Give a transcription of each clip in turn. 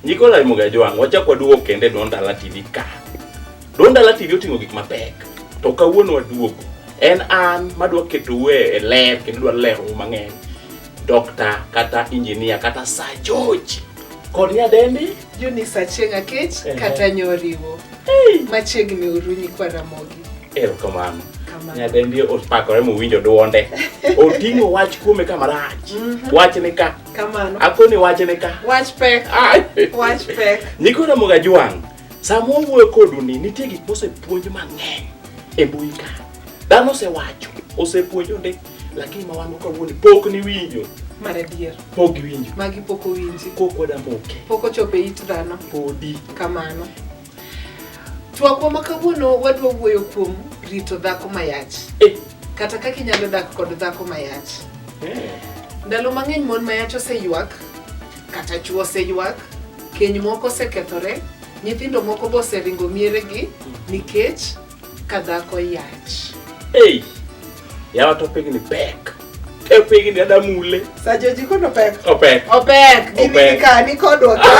Niko la muga jwang, wacha kwa duo kende donda la TV ka. Donda la TV otingo gik mapek. To kawuono waduogo. En an madwa keto we e ler kendo dwa lero mang'eny. Dokta kata injinia kata sajoji kod nyadendi Eunice Achieng' Akech Ehe. kata Nyoriwo. Machiegni uru nyikwa Ramogi. Erokamano. Kamano. Nyadendi opakore mowinjo dwonde. Oting'o wach kuome kama rach. Wach ni ka. Kamano. Akoni wach ni ka. Wach pek. Ai. Wach pek. Nyikwa Ramogi Ajwang', sama wawuoyo kodu ni nitie gik mosepuonj mang'eny e mbui ka. Dhano osewacho, osepuonjo ndi. lakini ma wan kawuono pok niwinjo mar adier pok iwinjo magi pok owinji kok wada moke pok ochopo e it dhano podi kamano twakwa ma kawuono wadwa wuoyo kuom rito dhako mayach eh. kata kaka inyalo dak kod dhako mayach eh. ndalo mang'eny mon mayach oseywak kata chuo oseywak keny moko osekethore nyithindo moko boseringo mieregi nikech Kadhako yach. Hey, yawa to pigni pek. E pigni ada mule. Sa joji kono pek. Opek. Opek. Gini Opek. ka ni kodwa ka.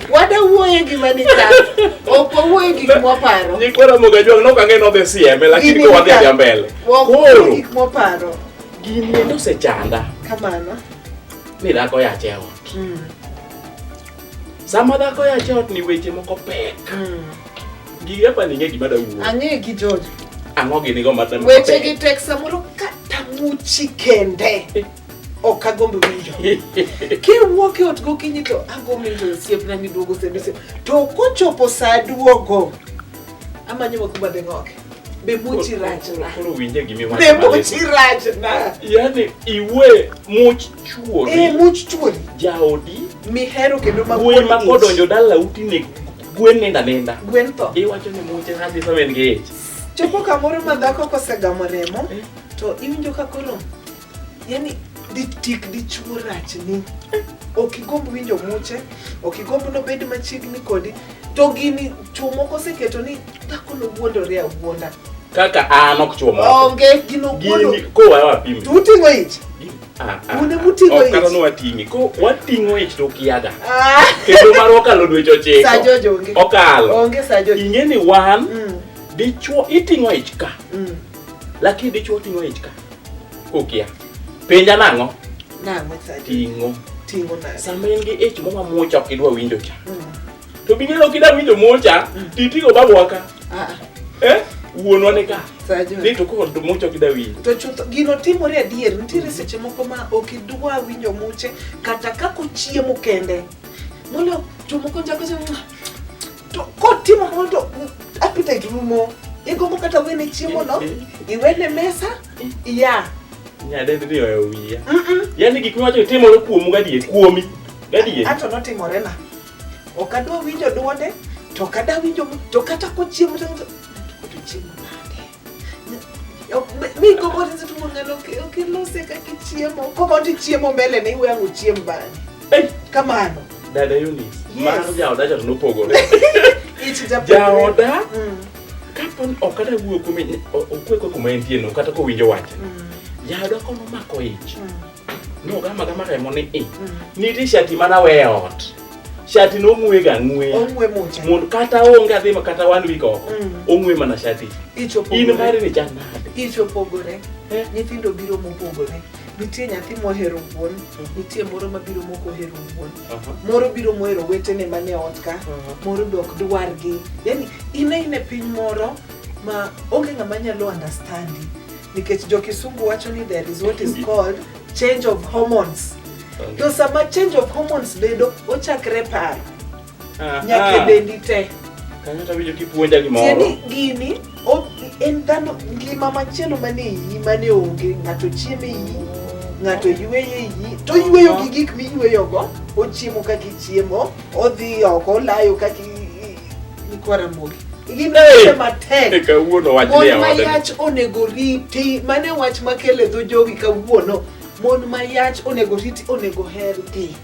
Wada wuoye gima ni ka. Ok wawuoye gik mwaparo. Nyikwara moga jwang nok ang'e nodhi sieme lakini Gini ko wadhi ka- adhiya mbele. Ok wawuoye Koro gik mwaparo. gini endo osechanda Kamano. ni dhako yache ot. Mm. Sama dhako ya chot ni weche moko pek. Mm. Gi apa ni ngegi bada wuo. Ange gi George. Ango gi nigo mata. Weche gi tek samoro kata muchi kende. Eh. Ok agombo winjo. Kiwuok e ot gokinyi to agombo winjo osiepna miduogo sende. To kochopo saa duogo, amanyo wakuba beng'oke. be much rach na koro winje gi mi be much rach na yani iwe much chuori e eh, much chuori jaodi mi hero kendo ma kuwi ma kodonjo dala uti ne gwen nenda nenda gwen to iwacho ni much rach sama en gi ich chopo kamoro ma dhako kosegamo remo eh. to iwinjo ka koro yani ditik dichuo rachni ok igomb winjo muche ok igomb nobed machiegni kodi to gini chuo moko oseketo ni dhako nowuondore awuonda kaka an ok chuo moko onge gino wuondo gini kowa wapim to uting'o ich Une muting'o ich. Okano wating'i. Ko wating'o ich to kiaga. Ah. Kendo mar okalo dweche ochiko. Sa Jojo onge. Okalo. Onge sa Jojo. Ing'e ni wan mm. dichuo iting'o ich ka. Mm. Lakini dichuo oting'o ich ka. Kokia. Penja nang'o? Nang'o sadi. Ting'o. Ting'o nang'o. Sama in gi ich mama mucha ok idwa winjo cha. Mm. To bi ng'eyo kida winjo mucha, mm. ti tigo babu waka. Ah. Eh? Wuonwa ne ka. Ni to kod mucha ok idwa winjo. To chutho gino timore adier, nitiere seche moko ma ok idwa winjo muche kata kako chiemo kende. Molo jomoko njako jomoko To kotimo kamano to appetite rumo. Igombo kata wene chiemo no, iwene mesa, iya. Nyadendi ni oyo wiya. Yaani gik miwacho timore kuomu gadier, kuomi. Gadier. Ato notimore na. Ok adwa winjo dwonde, to ok adwa winjo, to kata kochiemo to to chiemo nade. mi gombo ni seche moro ng'ano kilose kaka ichiemo koko ti chiemo mbele ne iwe ango chiem bang'e kamano dada Eunice mar jaoda cha to nopogore jaoda mm. kapon ok ata wuoyo kuome okwe kwe kuma entieno kata kowinjo wache mm. jaoda kono mako ich mm. Nogama gama remo ni i. Mm. Niti shati mana we ot. Shati no ng'we ga ng'we. Ong'we mucha. Mondo kata onge adhi ma kata one week oko. Mm. Ong'we mana shati. Icho pogore. In mari ni chanda. Icho pogore. Eh? Nyithindo biro mopogore. Nitie nyathi mohero wuon, mm. nitie moro mabiro moko hero wuon. Uh-huh. Moro biro mohero wetene mane ot ka, uh-huh. moro dok dwargi. Yaani ine ine piny moro ma onge ng'ama nyalo understandi nikech jo kisungu wacho ni there is what is called change of hormones to sama change of hormones bedo ochakre paro nyaka dendi te kanyo tawinjo kipuonja gimoro tieni gini o- en dhano ngima machielo mane iyi mane onge ng'ato chiemo iyi ng'ato yueyo iyi to yueyo gi gik miyueyogo ochiemo kaka ichiemo odhi oko olayo kaka i- kawuono wach mon mayach onego riti mane wach makele dho jowi kawuono mon mayach onego riti onego her dhi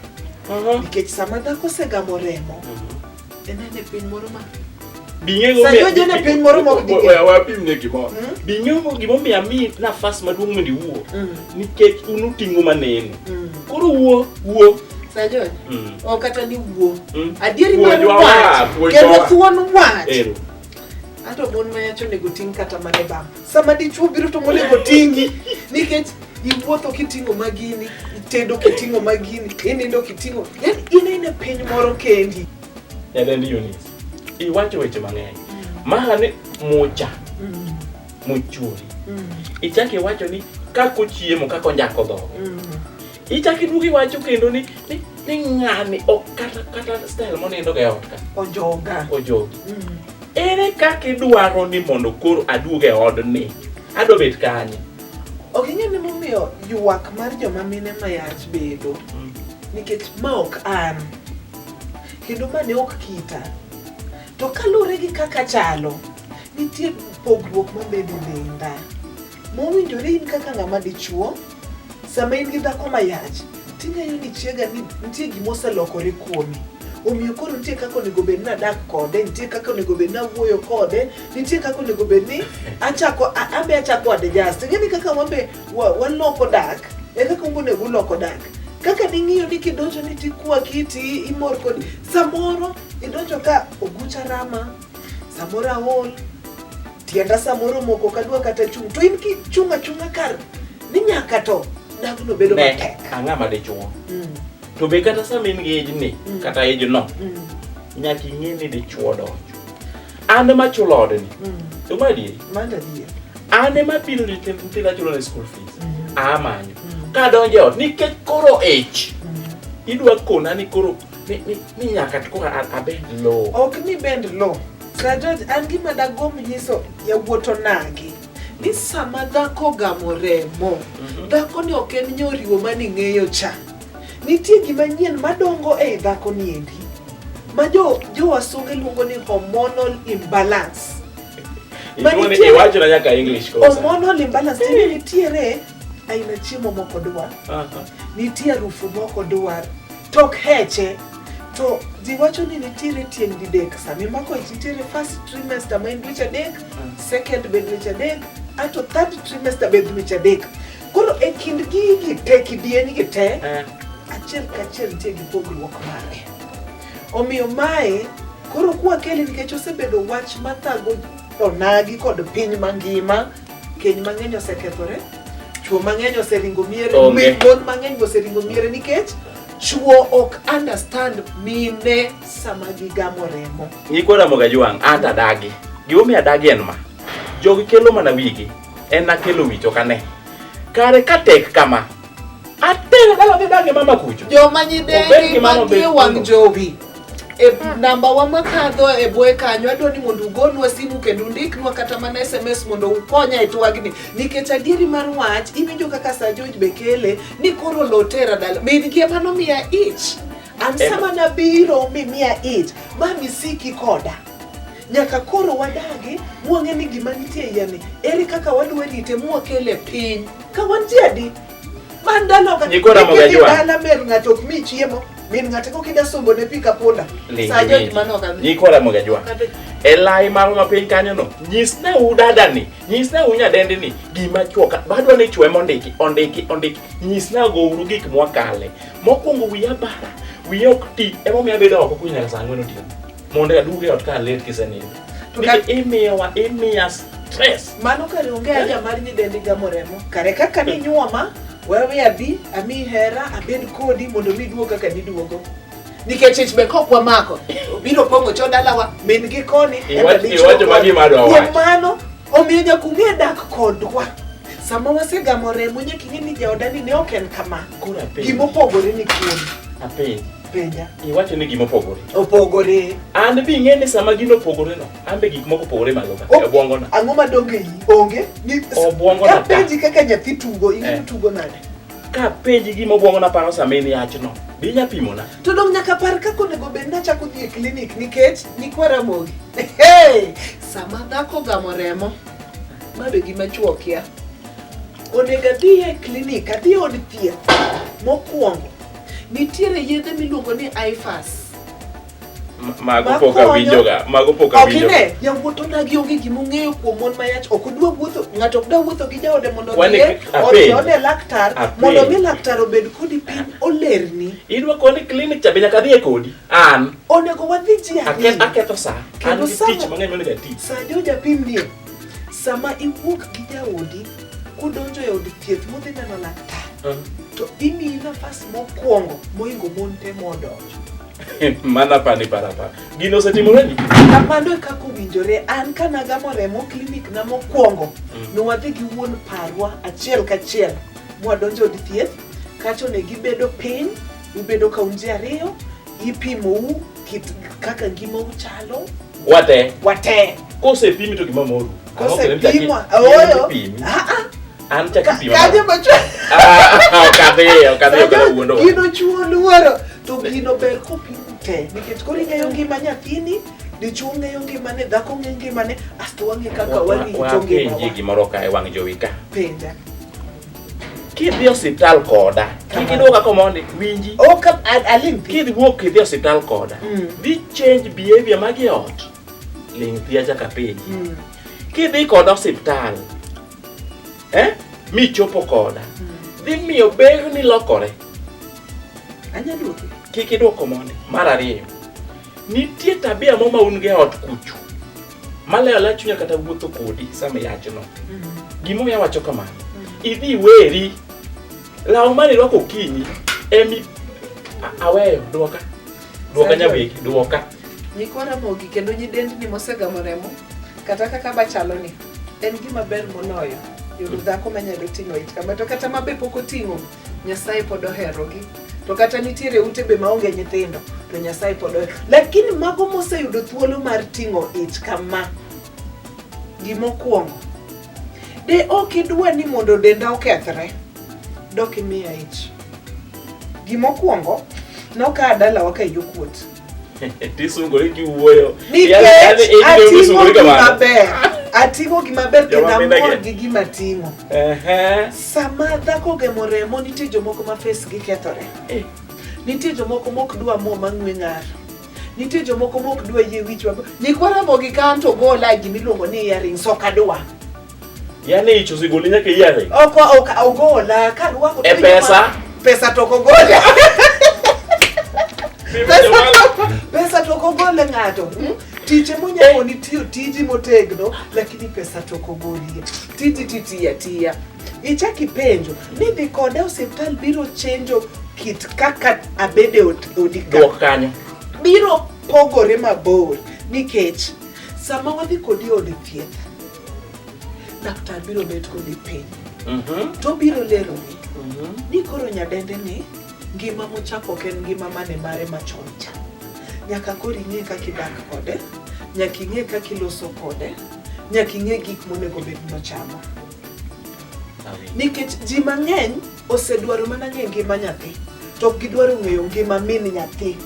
uh-huh. nikech sama dhako osegamo remo uh-huh. enene piny moro ma bing'e gimomiyo ami nafas maduong' mondo iwuo hmm. nikech un uting'o maneno mm. koro wuo wuo Sajon, mm. ok kata ni wuo mm. adieri mar wach kendo thuon wach Ero. ato mon mayacho onego ting' kata mane bam sama dichuo biro to monego ting'i nikech iwuotho kiting'o magini itedo kiting'o magini inindo kiting'o yani in ine piny moro kendi nyadendi Eunice iwacho weche mang'eny mm. mahane mucha mm. mochwori mm. ichak iwacho ni kaka ochiemo kaka onjako dhogo mm. ichak iduogo iwacho kendo ni ni ng'ani ok kata kata style monindo ga e ot ka ojoga ojogi mm. ere kaka idwaro ni mondo koro aduog e odni adwa bet kanye ok ing'e ni momiyo ywak mar joma mine mayach bedo nikech ma ok an kendo ma ne ok kita to kaluwore gi kaka chalo Nitie pogruok mabedo denda mowinjore in kaka ng'ama dichuo sama in gi dhako mayach ting'eyo ni chiega ni nitie gima oselokore kuomi omiyo koro nitie kaka onego bed ni adak kode nitie kaka onego bed ni awuoyo kode nitie kaka onego bed ni achako a- abe achako adjust ing'e ni kaka wabe wa- waloko dak e kaka ungo onego uloko dak kaka ning'iyo ni kidonjo ni tikwaki ti imor kodi samoro idonjo ka ogucha rama Samoro aol, tienda samoro moko kadwa kata chung'. To in kichung' achung'a kar ni nyaka to dagno bedo Ne, matek. ang'a ma dichuo Mm, to be kata sama in gi ejni Mm. kata ejno mm, nyaka ing'e ni dichuo donjo an ema chulo odni mm. to ma adieri Manda dhier. an ema pilo nyithind nyithindo achulo ne school fees Mm, amanyo mm, kadonjo e ot nikech koro ich mm. idwa kona ni koro Mi, mi, mi nyaka to koro a- abed low. ok ni bend lo sir george an gima dagomb nyiso yawuoto nagi ni sama dhako gamo remo dhakoni ok en nyoriwo mane ing'eyo cha nitie gima nyien madongo ei dhako niendi ma jo jo wasunge luongo ni hormonal imbalance Iluongo ni- Manitie- Iwachona nyaka English koro sani. hormonal imbalance tiende nitiere aina chiemo moko dwar nitie arufu moko dwar tok heche to ji wacho ni nitiere tieng' didek sami mako ich nitiere first trimester ma en dweche adek second be dweche adek ato third trimester be dweche adek koro e kind gigi te kidieny gi te achiel kachiel nitie gi pogruok mare omiyo mae koro kwakeli nikech osebedo wach mathago onagi kod piny mangima Keny mang'eny osekethore, chwo mang'eny oseringo miere, Onge. mon mang'eny be oseringo miere nikech chwo ok understand mine sama gigamo remo. Nyikwa Ramogi Wang' ata adagi. Gimomiyo adagi en ma. Jogi kelo mana wigi. En akelo wich ok ane. Kare ka tek kama, Atene kala bida gi mama kucho. Joma nyidengi ma gi wang' jowi. E namba wa makadho e boye kanyo adwa ni mondo ugonwa simu kendo undiknwa kata mana SMS mondo ukonya e twagni nikech adieri mar wach iwinjo kaka Sir George Bekele ni koro lotera dala. Min gi ema nomiya ich. An sama nabiro mimiya ich ma misiki koda. Nyaka koro wadagi mwang'e ni gima nitie yani, eri kaka wadwa rite mwakele piny. Ka wan ji adi? Man dalo ka Nyiko ramo ga jwa. dala mer ng'ato ok mi chiemo, min ng'ato kok ida sombo ne pika punda. Sa jo gima no kadhi. Nyikora Mogajwa. E lai marwa mapiny kanyo no, nyisne u dada ni, nyisne u nyadendi ni, gima chwoka, badwa ni chwe mondiki, ondiki, ondiki, nyisna go uru gik mwakale. Mokwongo wiya bara, wiya ok ti, emomiyo abedo oko kunyal sangwe no tiyo. Mondo aduge ot ka alet kisenindo. To ka imiyo wa imiya stress. Mano kare onge eh? aja mar nyidendi gamo remo. Kare kaka ni nyuoma wewe abi ami hera abed kodi mondo mi duogo kaka niduogo. Nikech ich be kok wamako. Biro pongo cho dalawa min gi koni. Iwacho magi madwa wacho. Kuom mano omiyo nyaka ung'e dak kodwa sama wasegamo remo nyaka ing'e ni jaodani ne ok en kama gimopogore ni kuom penja. Iwacho ni gima opogore. Opogore. An be ing'e ni sama gino opogore no, an be gik moko opogore malo ka. E bwongo na. Ang'o ma donge yi? Onge. Ni obwongo na. Penji kaka nyathi tugo, ing'e eh. tugo nade? Ka penji gima obwongo na paro sama in yach no. Bi nya pimo na. To dong nyaka par kaka onego bed na chako dhi e klinik nikech nikwa ramogi. Hey! Sama dhako gamo remo, ma be gima chuo kia. Onego adhi e klinik, adhi e od thieth mokwongo Nitiere yedhe miluongo ni IFAS. Mago pok awinjoga, mago pok awinjoga. Ok ne, yawuot odagi onge gima ong'eyo kuom mon ma yach, ok odwa wuotho, ng'ato ok dwa wuotho gi jaode mondo odhiye, odhi ode laktar, mondo mi laktar obed kodi piny, olerni. Idwa koni klinik cha be nyaka adhiye kodi, an. Onego wadhi ji ariyo. Aketho sa, an gi tich mang'eny monego atich. Sa jo japim nie. Sama iwuok gi jaodi kudonjo e od thieth mudhi neno laktar, Ah. to imiyi nafas mokwongo moingo mon te modonjo. Mana pani parapa. Gino osetimoreni? Kamano e kaka owinjore an ka nagamo remo klinik na mokwongo Mm. nwadhi gi wuon parwa achiel kachiel mwadonjo od thieth kacho ne gibedo piny ubedo kaunti ariyo Ipimou kit kaka ngimau chalo. Wate. Wate. Kosepimi to gima moru. Kosepimwa. Ooyo. Ah ah. An chak ipima. Kaje macho. Ah, ah, ok adhi, ok adhi, ok adhi wuondo. Gino chuo luoro. To gino ber kopim te. Nikech koro ing'eyo ngima nyathini. Dichuo ng'eyo ngimane, dhako ng'eyo ngimane, asto wang'e kaka wang'e to ngimane. Wapenji gimoro ka e wang' jowi ka. Penja. kidhi osiptal koda kik iduoga komondi winji ok aling kidhi wuok kidhi osiptal koda mm. dhi change behavior magi ot ling thia chaka piny mm. kidhi koda osiptal eh michopo koda mm. dhi miyo ber ni lokore kik iduok komondi mar ariyo nitie tabia mo ma un ge ot kuchu maleyo aleya chunya kata wuotho kodi sama iyachno gimomiyo awacho kamano idhi iweri law mane irwako okinyi emi a- aweyo dwoka dwoka Sandra. nyawegi dwoka Nyikwa Ramogi kendo nyidendni mosegamo remo kata kaka bachaloni en gima ber moloyo yudo dhako manyalo ting'o ich kama to kata ma be pok oting'o Nyasaye pod oherogi. To kata nitiere ute be maonge nyithindo to Nyasaye pod ohero. Lakini mago moseyudo thuolo mar ting'o ich kama gimokwongo de ok idwa ni mondo denda okethre dok imiya ich. Gimokwongo nokaa dalawa ka yo kuot. Tisungore kiwuoyo. Nikech Yaani- yaani- yaani atimo isungore gima kamano. ber. Atimo gima ber kendo Joma mina amor ge. gi gima atimo. Ehe. Sama dhako ogemo remo nitie jomoko ma face gi kethore. Eh. Nitie jomoko mok dwa mo mang'we ng'ar. Nitie jomoko mok dwa yie wich maber. Nyikwa ramo gi kanto gola gimiluongo ni earrings ok adwa. Yaani hicho sigoli nyake yale. Oko oka ogola kan wako. E pesa. Pesa toko gola. Pesa toko gola ngato. Hmm? Tije monyako eh. ni tiyo tiji motegno lakini pesa toko golie. Tiji titi ya tiya. Ichaki penjo ni dhi kode osiptal biro chenjo kit kaka abede odika. Dok kanyo. Biro pogore mabor nikech sama wadhi kodi od thieth Laktar biro bet kodi piny mhm. to biro leroni mhm. ni koro nyadende ni ngima mochako ok en ngima mane mare machon cha nyaka koro ing'e kaka idak kode nyaka ing'e kaka iloso kode nyaka ing'e gik monego bed nochamo nikech ji mang'eny osedwaro mana ng'e ngima nyathi to ok gidwaro ng'eyo ngima min nyathi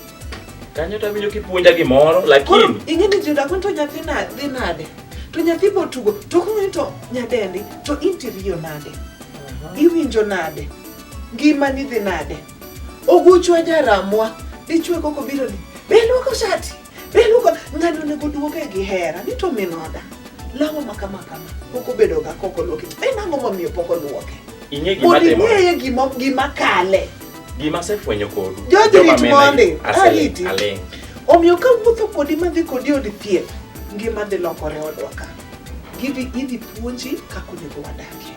Kanyo to awinjo kipuonja gimoro Koro lakini ing'e ni Juda koni to nyathi na- dhi nade? To nyathi botugo, to ok ng'e to nyadendi, to interior nade? Iwinjo nade? Ngimani dhi nade? Oguchwa jaramwa, dichwe koko biro ni, be luoko shati, be luoko, ng'ani onego duoge gi hera, ni to min oda. Lawa ma kama kama, pok obedo ga koko luoke, en ang'o momiyo pok oluoke? ing'e gima Mondo timore. ing'eye gima, gima kale. Gima asefwenyo kodu. Joji rit mondi. Ariti. Omiyo ka wuotho kodi madhi kodi od thieth, ngima dhi lokore odwa ka. Gidhi idhi puonji kaka onego wadagie,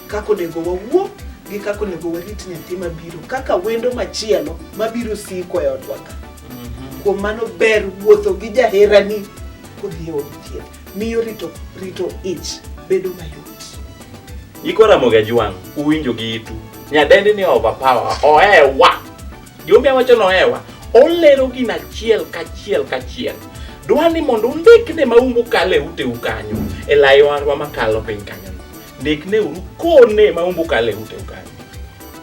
kaka onego wawuo gi kaka onego warit nyathi mabiro, kaka wendo machielo mabiro siko e odwa ka. Mhm. Kuom mano ber wuotho gi jaherani kodhi e od thieth. miyo rito rito ich bedo mayot. Iko Ramogi Ajwang' uwinjo gi itu. Nyadendi ni overpower, ohewa. Jumbe wacho ni ohewa. Olero gina achiel kachiel kachiel. Dwa ni mondo undikne maumbu kalo e uteu kanyo, e layorwa makalo piny kanyo. Ndikne uru kone maumbu kalo e uteu kanyo.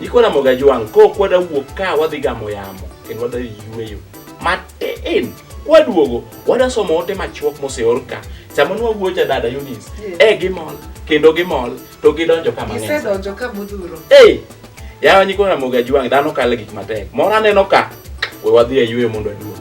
Iko Ramogi Ajwang' kokwada wuok ka wadhi gamo yamo kendo wadhi yueyo matin. Kwaduogo, wada somo ote machuok moseor ka. Sama nwa wuoyo cha dada Eunice, Yes. eh gimol, kendo gimol, to gidonjo ka mang'eny. Gisedonjo ka modhuro. Hey! Yawa nyikwa Ramogi Ajwang' dhano kale gik matek. Moro aneno ka. We wadhi e yueyo mondo aduogi.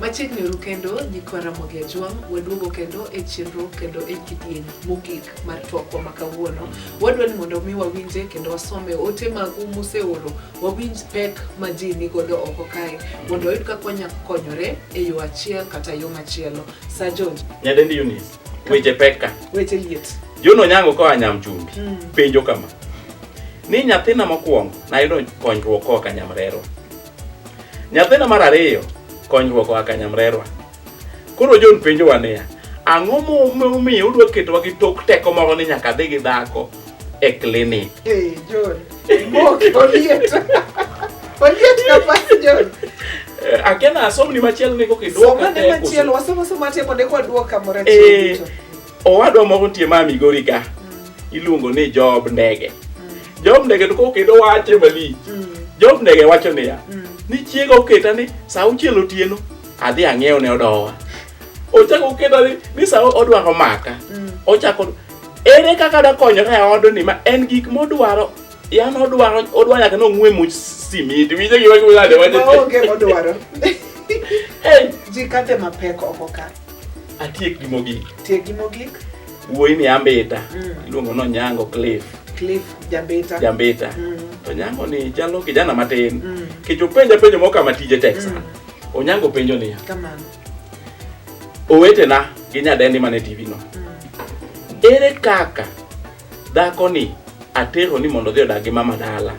Machiegni uru kendo nyikwa Ramogi Ajwang', waduogo kendo e chenro kendo e kidieny mogik mar twakwa ma kawuono. Wadwa ni mondo mi wawinje kendo wasome ote magu museoro, wawinj pek ma ji nigodo oko kae mondo wayud kaka wanyalo konyore e yo achiel kata yo machielo. Sa George, Nyadendi Eunice, weche pek ka. weche liet. Juno Onyango koa Nyamchumbi Mm. penjo kama. Ni nyathina mokwongo nayudo konyruok koa ka Nyamrerwa. Nyathina mar ariyo konyruok oa ka nyamrerwa. Koro John penjowa niya, ang'o momiyo udwa ketowa gi tok teko moro ni nyaka dhi gi dhako e klinik? Hey, John, mok oliet. Oliet kapas John. Eh, Akena asomni machielo ni kokidwoka Somane machielo, wasomo somo ate mondo eko aduok kamoro achiel Eh, duto. owadwa moro nitie ma Migori ka iluongo ni Job Ndege. Job Ndege to kokedo wache malich. Job Ndege wacho niya, ni chiega oketa ni sa auchiel otieno adhi ang'iew ne odowa. Ochako oketa ni, ni sa odwaro maka. Ochako ere kaka dakonyore e odni ma en gik modwaro yan odwaro odwa nyaka ni ong'we much simiti winjo gima giwilade wacho Maonge modwaro. Hey, Ji kate mapek oko ka. Atiek gi mogik. Tiek gi mogik. Wuoyi ni ambita. Mm. Iluongo no Nyango Cliff. Cliff Jambita. Jambita. Mm. To Nyango ni jalo kijana matin. Mm. Kicho penja penjo moka matije Texas. Mm. Onyango penjo niya. Kamano. Owetena gi nyadendi mane TV no. Mm. Ere kaka dhako ni atero ni mondo odhi odag gi mama dala.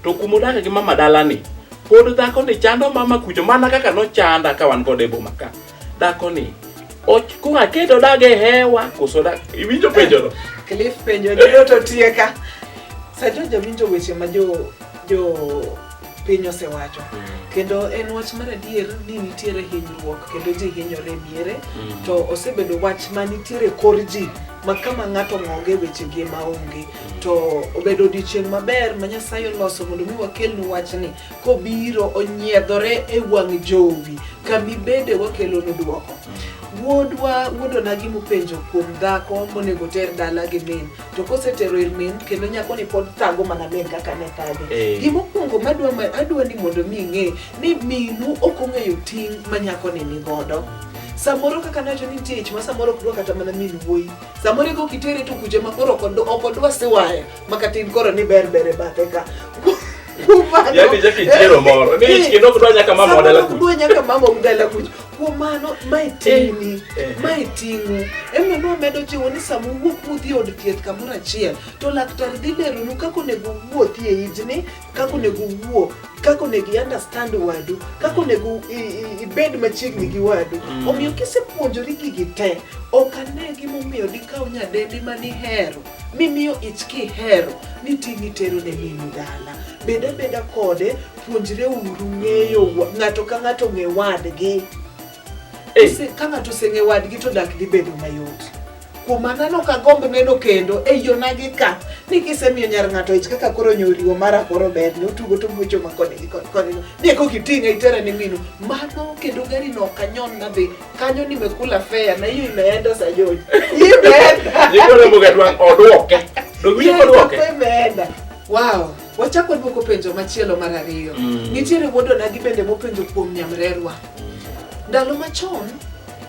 To kuma odak gi mama dala ni pod dhako ni chando mama kucho mana kaka nochanda ka wan kode e boma ka. Dako ni kura kedo dage hewa koso da iwinjo penjo no. Cliff penjo ni to tieka. Sajo jawinjo weche ma jo jo piny osewacho mm. kendo en wach mar adier ni nitiere hinyruok kendo ji hinyore miere mm. to osebedo wach ma nitiere kor ji ma kama ng'ato ng'onge weche gi ma onge mm. to obedo odiochieng' maber ma nyasaye oloso mondo mi wakelnu wachni kobiro onyiedhore e wang' jowi kamibede wakelonu dwoko wuodwa wuodona gimupenjo kuom dhako monego ter dala gi min to kosetero ir min kendo nyakoni pod thago mana min kaka ne thage Eh. gimokwongo madwa ma- adwa ni mondo mi ing'e ni minu ok ong'eyo ting' ma nyakoni ni godo samoro kaka nacho ni tich ma samoro ok dwa kata mana min wuoyi samoro ego kitere to kuche ma koro ok odwa- ok odwa siwaya makatin koro ni ber ber e bathe ka Yaani Jackie chiero moro. Ni ich kendo kudwa nyaka mama wa dala kuch. Kudwa nyaka mama wa dala kuch. Kuom mano, mae ting'ni, eh, eh. mae ting'u. Ema no medo jiwo ni sama uwuok udhi od thieth kamoro achiel, to laktar dhi leronu kaka onego uwuothi e ijni, kaka onego uwuo, kaka onego i-understand wadu, kaka onego ibed machiegni gi wadu. Mm. Omiyo kisepuonjori gigi te, ok ane gimomiyo dikaw nyadendi ma nihero mimiyo ich kihero ni ting' itero ne minu dala bed abeda kode puonjre uru ng'eyo wa- ng'ato ka ng'ato ng'e wadgi Eh. Ose- ka ng'ato oseng'e wadgi to dak dhi bedo mayot kuom mano anok agomb neno kendo e yonagi ka ni kisemiyo nyar ng'ato ich kaka koro nyoriwo mara koro ber ni otugo to mucho ma koni gi koni koni ni eko kiting'e itere ni minu mano kendo gari no ok anyon nadhi kanyo nimekula fea na hiyo imeenda sayoni imeenda nikona mboga dwang odwoke dogwinyo odwoke imeenda wow wachako dwoko penjo machielo mar ariyo mm. nitiere wuodo nagi bende mopenjo kuom nyamrerwa ndalo machon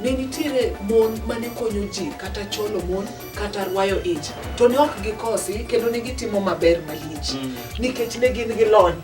ne nitiere mon mane konyo ji kata cholo mon kata rwayo ich to ne ok gikosi kendo ne gitimo maber malich mm. nikech ne gin gi lony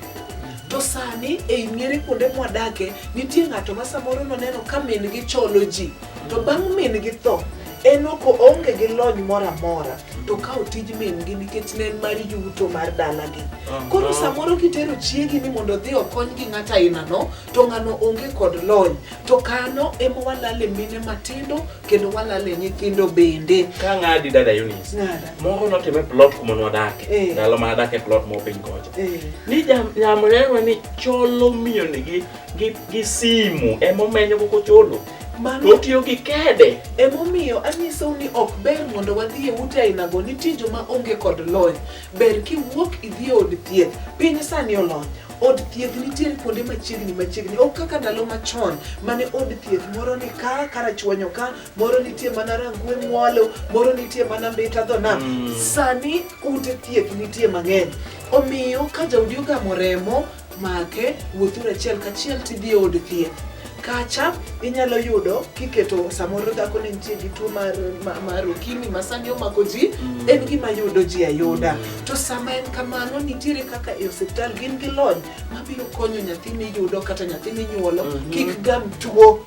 To sani ei miere kuonde mwadake nitie ng'ato ma samoro noneno ka min gi cholo ji to bang' min gi tho en ok oonge gi lony moro amora to kawo tij min gi nikech ne en mar yuto mar dalagi koro samoro kitero chiegi ni mondo odhi okony gi ng'ato ainano to ng'ano onge kod lony to kano ema walale mine matindo kendo walale nyithindo bende ka ng'adi dada Eunice Ng'ada. moro notime plot kuma nwadake Eh. ndalo ma adake plot mo piny kocha Eh. ni jam- nyamrewa ni cholo miyoni gi, gi, gi simu emomenyo koko cholo Mano- to otiyo gi kede emomiyo anyisou ni ok ber mondo wadhi e ute ainago nitie joma onge kod lony ber kiwuok idhi e od thieth piny sani olony Od thieth nitiere kuonde machiegni machiegni, ok kaka ndalo machon mane od thieth moro ni ka karachuonyo ka, moro nitie mana Rangwe Mwalo, moro nitie mana Mbita dho nam. Mm. Sani ute thieth nitie mang'eny, omiyo ka jaodi ogamo remo make, wuothuru achiel kachiel tidhi e od thieth. kacha inyalo yudo kiketo samoro dhako ne nitie gi tuo mar, ma- mar ukimi ma sani omako ji Mm. en gima yudo ji ayuda to sama en kamano nitiere kaka e osiptal gin gi lony mabiro konyo nyathi miyudo kata nyathi minyuolo Mhm. kik gam tuo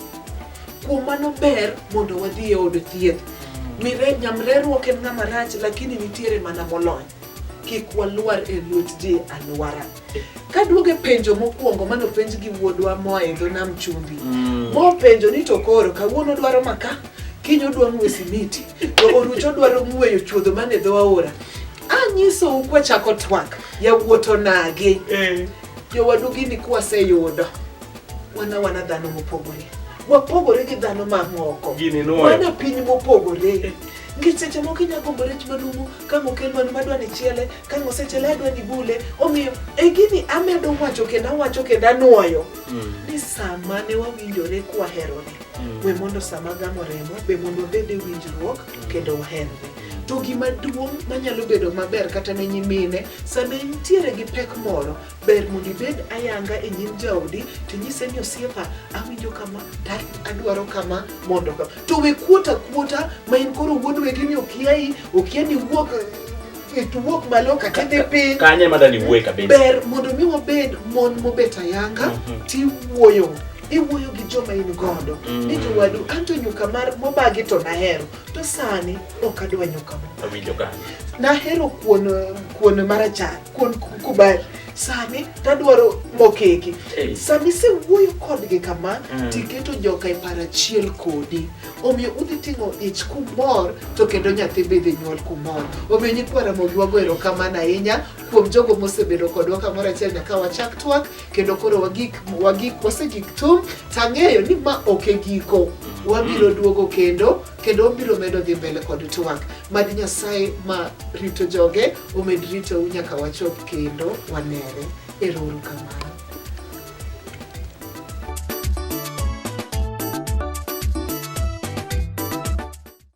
kuom mano ber mondo wadhi e od thieth Mire- nyamrerruok en ng'ama rach lakini nitiere mana molony kik walwar e lwet ji alwara kaduogo e penjo mokwongo mano penj gi wuodwa moa e dho nam chumbi mm. mopenjo ni to koro kawuono dwaro maka kiny odwa ng'we simiti to orucho dwaro ng'weyo chuodho man e dho aora anyisou kwachako twak yawuoto nagi eh. jowadu gini kwaseyudo wana wana dhano mopogore wapogore gi dhano mamoko wana piny mopogore nikech seche moko inya gombo rech manumu ka mokel mano madwa ni chiele ka mosechiele adwa ni bule omiyo e gini amedo wacho kendo awacho kendo anwoyo mm. ni sama ne wawinjore kwaherore mm. we mondo sama gamo remo be mondo wabed e winjruok mm. kendo waherore to gima duong' manyalo bedo maber kata ne nyimine sama intiere gi pek moro Ber mondo ibed ayanga e nyim jaodi to inyise ni osiepa awinjo kama ta adwaro kama mondo ka to we kuota kuota ma in koro wuod wegi ni okiai okia ni wuok ituwuok malo kata idhi piny kanye ma dani wuoye kabisa ber mondo mi wabed mon mobet ayanga Mhm. tiwuoyo iwuoyo gi joma in godo Mm. ni jowadu anto nyuka mar mobagi to nahero to sani ok adwa nyuka mo awinjo kanye nahero kuon kuon marachar kuon kubali sani tadwaro mokeki Ei. sami sewuoyo kodgi kama Mm. tiketo joka e paro achiel kodi omiyo udhi ting'o ich kumor to kendo nyathi bidhi nyuol kumor omiyo nyikwa ramogi wago erokamano ahinya kuom jogo mosebedo kodwa kamoro achiel nyaka wachak twak kendo koro wagik wagik wasegik tum tang'eyo ni ma ok e giko wabiro duogo kendo kendo wabiro medo dhi mbele kod twak mad nyasaye ma rito joge omed ritou nyaka wachop kendo wanere erouru kamano